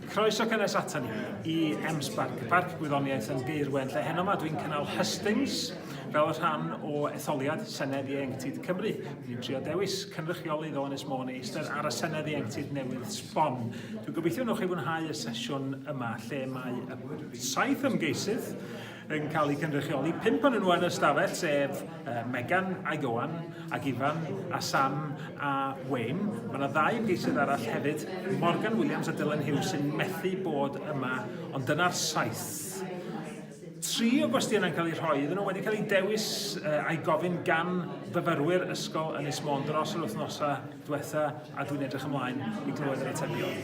Croeso cynnes atan ni i M-Sparc, Parc Gwyddoniaeth yn Gaerwen, lle heno yma dwi'n cynnal hustings fel rhan o etholiad Senedd Ieuenctid Cymru. Dwi'n trio dewis cynrychiolydd o Ynys Môn i eistedd ar y Senedd Ieuenctid newydd sbon. Dwi'n gobeithio wneud chi fwynhau y sesiwn yma lle mae y saith ymgeisydd yn cael eu cynrychioli. Pump o'n nhw yn y stafell, sef uh, Megan a Johan, ac Ifan, a Sam a Wayne. Mae yna ddau ymgeisydd arall hefyd, Morgan Williams a Dylan Hughes, sy'n methu bod yma, ond dyna'r saith. Tri o gwestiynau'n cael eu rhoi iddyn nhw wedi cael eu dewis uh, a'i gofyn gan fyfyrwyr ysgol yn Ysmôn dros yr wythnosau diwetha a dwi'n edrych ymlaen i glywed yr atebion.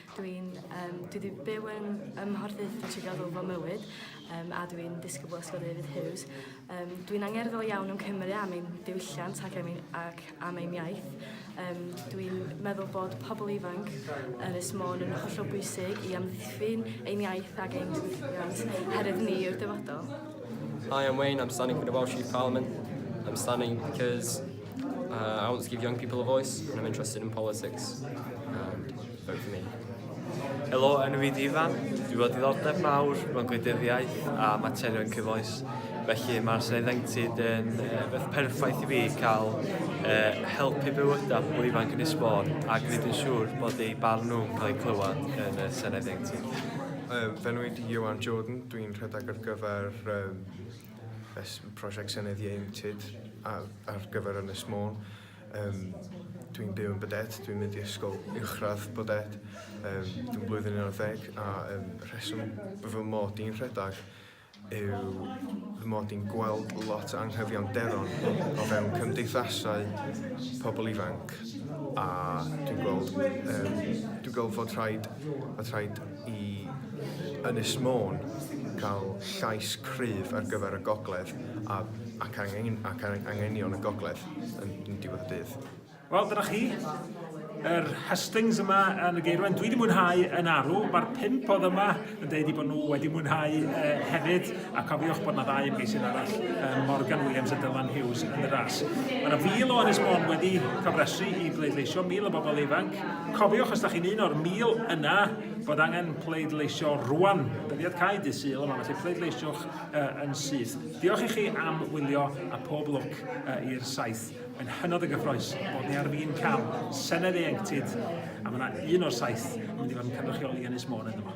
Dwi'n um, dwi wedi byw yn ym Mhorthaethwy trwy gadw fy mywyd um, a dwi'n disgybl ysgol David Hughes. Um, dwi'n angerddol iawn yn Cymru am ein diwylliant ac am ein, ac am ein iaith. Um, dwi'n meddwl bod pobl ifanc yn y smôn yn hollol bwysig i amddiffyn ein iaith ac ein diwylliant herwydd ni yw'r dyfodol. Hi, I'm Wayne. I'm standing for the Welsh Youth Parliament. I'm standing because Uh, I want to give young people a voice and I'm interested in politics. And vote for me. Helo, enw fi Difan. Dwi fod ddoddeb mawr mewn gwleidyddiaeth a materion cyfoes. Felly mae'r Senedd Enctid yn uh, beth perffaith i fi cael uh, help i bywydau pobl ifanc yn esbon ac wneud yn siŵr bod eu barn nhw'n cael eu clywed yn y Senedd Enctid. Uh, fe nhw i Joan Jordan, dwi'n rhedeg ar gyfer um, Fy mhrosiect Senedd Ieuenctid ar ar gyfer Ynys Môn. Yym dwi'n byw yn Bwdêt, dwi'n mynd i ysgol uwchradd Bwdêt. Yym dwi'n blwyddyn unarddeg a yym y rheswm b- fy mod i'n rhedag yw fy mod i'n gweld lot o anghyfiawnder o fewn cymdeithasau pobl ifanc a dwi'n gweld yym dwi'n gweld fod rhaid fod rhaid i Ynys Môn cael llais cryf ar gyfer y gogledd a, ac, angen, ac angenion y gogledd yn, yn diwedd y dydd. Wel, dyna chi. Yr hustings yma yn y geirwen, dwi wedi mwynhau yn arw. Mae'r pimp oedd yma yn dweud i bod nhw wedi mwynhau uh, hefyd. A cofiwch bod 'na ddau ymgeisydd arall, Morgan Williams a Dylan Hughes, yn y ras. Mae 'na fil o Ynys Môn wedi cofrestru i bleidleisio, mil o bobl ifanc. Cofiwch, os da chi'n un o'r mil yna, bod angen pleidleisio rwan. Dyddiad cau dydd Sul yma, felly pleidleisiwch yn syth. Diolch i chi am wylio a pob lwc i'r saith. Mae'n hynod o gyffroes bod ni ar fin cael Senedd ieuenctid a mae 'na un o'r saith yn mynd i fod yn cynrychioli Ynys Môn ynddo fo.